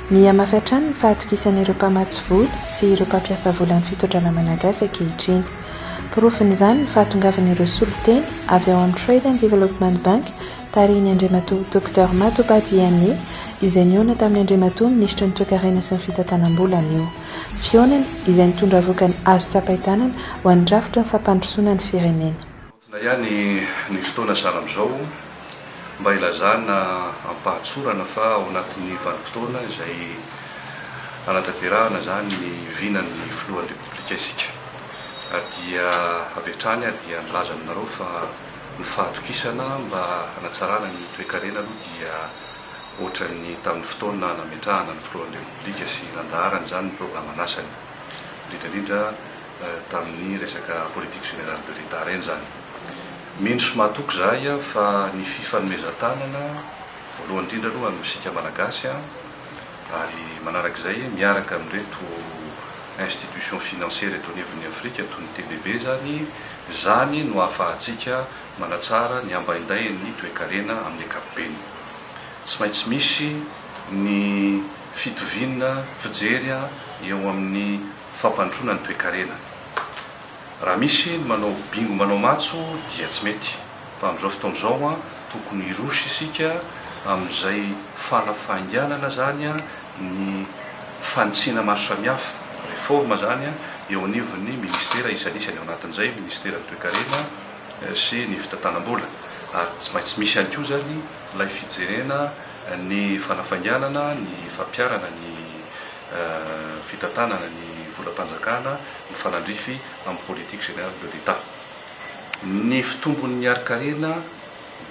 Mihamafy hatrany ny fahatokisan'ireo mpamatsy vola sy ireo mpampiasa volan'ny fitodrana malagasy ankehitriny. Porofon'izany ny fahatongavan'ireo solontena avy ao amin'ny Trade and Development Bank Tarihin'ny Andriamatoa Docteur Matoba Diagne, izay nihaona tamin'ny Andriamatoa Minisitry ny Toekarena sy ny Fitantanam-bola anio. Fihaonana izay nitondra vokany azo tsapain-tanana ho an'ny rafitra ny fampandrosoana ny firenena. Maontina ihany ny fotoana sahala amin'izao mba hilazana am-pahatsorana fa ao anatin'ny vanim-potoana izay hanatanterahana izany ny vinan'ny Filohan'ny Repoblika isika ary dia avy hatrany aho dia nilaza aminareo fa Ny fahatokisana mba hanatsarana ny toekarena aloha dia ohatran'ny tamin'ny fotoana nametrahana ny filohan'ny Repoblika sy nandaharany izany ny programan'asany, indrindra indrindra tamin'ny resaka politique générale de l'Etat ireny izany. Mino sy mahatoky izahay fa ny fifanomezan-tanana, voalohany indrindra aloha amin'isika Malagasy, Ary manaraka izay, miaraka amin'ireto institutions financières eto anivon'ny Afrika toy ny TBB izany, izany no ahafahantsika manatsara ny ambaindain'ny toekarena amin'ny ankapobeny. Tsy maintsy misy ny fitoviana fijery eo amin'ny fampandrosoana ny toekarena. Raha misy ny manao bingo manao matso dia tsy mety fa amin'izao fotoana izao an tokony hiroso isika amin'izay fala fahainganana izany ny fanitsiana maro samihafa, réforme, izany an eo anivon'ny ministera isanisany ao anatin'izay ministeran'ny toekarena sy ny fitantanam-bola ary tsy maintsy misy ihany koa izany ilay fijerena ny fanafainganana ny fampiharana ny fitantanana ny volam-panjakana mifanandrify amin'ny politique générale de l'Etat. Ny fitombon'ny harin-karena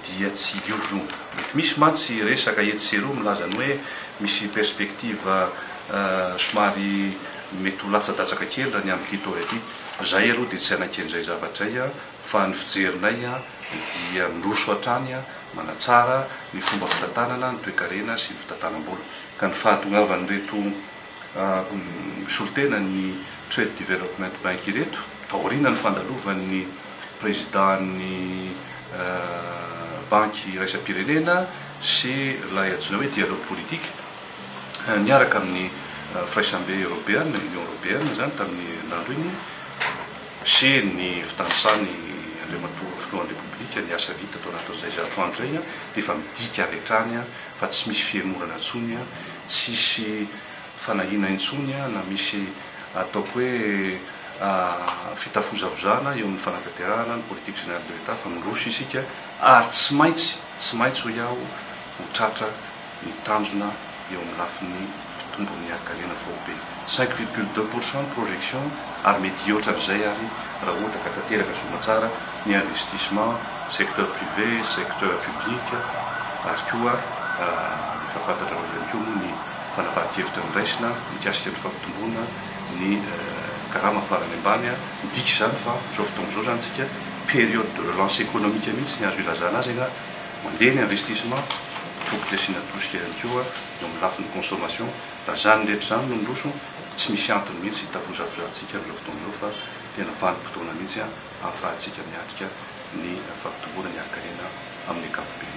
dia tsy hioviova. Mety misy mantsy resaka etsy sy eroa milaza ny hoe misy perspective somary mety ho latsadatsaka kely raha ny amin'ity taona ity. Izahay aloha dia tsy hanaiky an'izay zavatra izay fa ny fijerinay dia miroso hatrany manatsara ny fomba fitantanana ny toekarena sy ny fitantanam-bola. ka ny fahatongavan'ireto mpisolotena ny Trade Development Bank ireto, taorianan'ny fandalovan'ny Prezidàn'ny Banky Iraisam-pirenena sy ilay antsoina hoe Dialogue Politique niaraka amin'ny Firaisambe Eoropeana, Union Europeenne, izany tamin'ny herinandro iny, sy ny fitanisan'i Andriamatoa Filohan'ny Repoblika ny asa vita tao anatin'izay zato andro izay, dia efa midika avy hatrany, fa tsy misy fihemorana intsony an, tsisy fanahiana intsony an, na misy ataoko hoe fitafozavozana eo amin'ny fanatanterahana ny politique générale de l'Etat fa miroso isika ary tsy maintsy, tsy maintsy hoy aho, ho tratra ny tanjona eo amin'ny lafiny. mpitombo ny harin-karena faobe, cinq virgule deux pour cent ny projection ary mety hihoatra an'izay ary raha ohatra ka tanteraka soamantsara ny investissement secteur privé, secteur public ary koa efa fantatrareo ihany koa moa ny fanapahan-kevitra noraisina mikasika ny fampitomboana ny karama farany ambany, midika izany fa amin'izao fotoana izao izany tsika période de relance économique mihitsy ny azo ilazana azy anga mandeha ny investissement, tokony asiana tosika ihany koa. eo amin'ny lafiny consommation, raha izany rehetra izany no miroso, tsy misy antony mihitsy hitavozavozantsika amin'izao fotoana izao fa tena vanim-potoana mihitsy ahafahantsika miatrika ny fampitomboana ny harin-karena amin'ny ankapobeny.